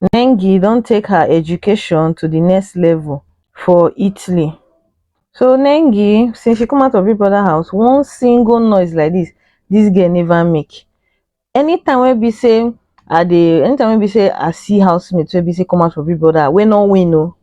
Nengi don take her education to the next level for Italy. So Nengi, since she come out of Big Brother house, one single noise like this, this girl never make. Anytime wey be say I dey, anytime wey be say I see housemates wey be say come out for Big Brother, wey no win o,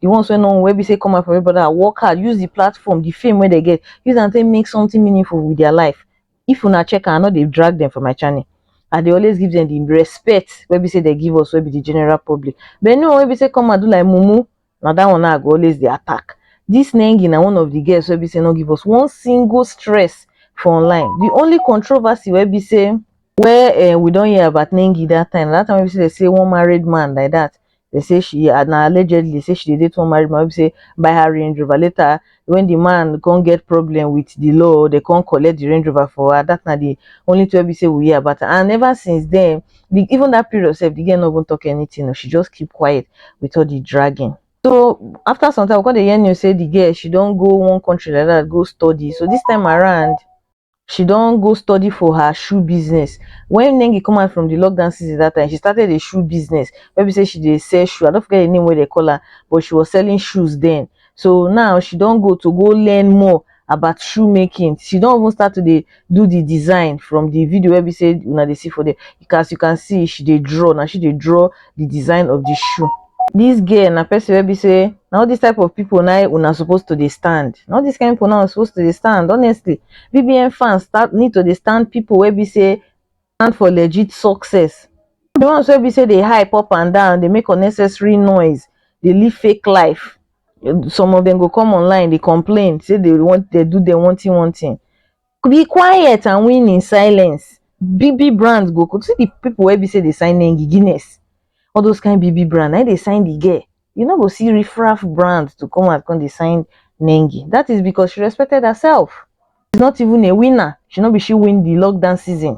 the ones wey no win, wey be say come out for Big Brother, work hard, use the platform, the fame wey dem get, use am take make something meaningful with their life. if una check am i no dey drag dem for my channel i dey always give them the respect wey be say they give us wey be the general public but anyone wey be say come and do like mumu na that one na i go always dey attack this nengi na one of the girls wey be say no give us one single stress for online the only controversy wey be say wey uh, we don hear about nengi that time that time wey be say they say one married man like that They say she and na allegedly say she dey date one married man wey be say buy her Range Rover. Later, when the man come get problem with the law, they come collect the Range Rover for her. That na the only thing wey be say we hear about her. And ever since then, the, even that period sef, the girl no even talk anything. o. She just keep quiet with all the dragging. So after some time, we come dey hear news say the girl she don go one country like that go study. So this time around, she don go study for her shoe business when Nengi come out from the lockdown season that time she started a shoe business maybe say she dey sell shoe I don't forget the name where they call her but she was selling shoes then so now she don't go to go learn more about shoemaking she don't even start to dey do the design from the video where we say una dey see for there as you can see she dey draw na she dey draw the design of the shoe this girl na person wey be say na all this type of people na una suppose to dey stand na all this kind people na suppose to dey stand honestly bbn fans start need to dey stand people wey be say stand for legit success the ones wey be say dey hype up and down dey make unnecessary noise dey live fake life some of them go come online dey complain say they want they do them one thing one thing be quiet and win in silence bb brand go go see the people wey be say dey sign nengi guinness all those kind bb brand na im dey sign the girl you no go see riffraff brand to come out come dey sign nengi that is because she respected herself she's not even a winner she no be she win the lockdown season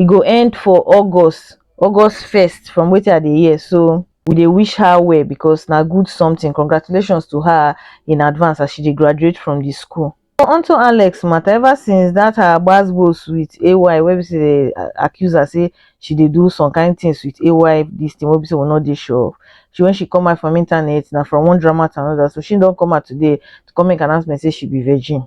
e go end for August August first from wetin I dey hear so we dey wish her well because na good something congratulations to her in advance as she dey graduate from the school. Onto Alex matter ever since that her gbas gbos with AY wey be say dey accuse her say she dey do some kind things with AY this thing wey be say we no dey sure of she when she come out from internet na from one drama to another so she don come out today to come make announcement say she be virgin.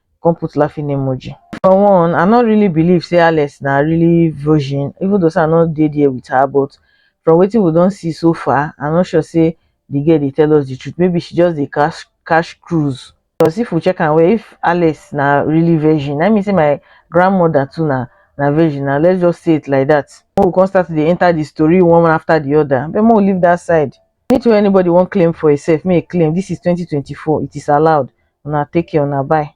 come put laughing emoji for one i no really believe say alex na really virgin even though say i no dey there with her but from wetin we don see so far i no sure say the girl dey tell us the truth maybe she just dey cash cash cruise because if we check am well if alex na really virgin that mean say my grandmother too na na virgin na let's just say it like that make we come start to dey enter the story one after the other but make we leave that side Anything wey anybody wan claim for himself, make e claim. This is twenty twenty four, it is allowed. Una take care, una bye.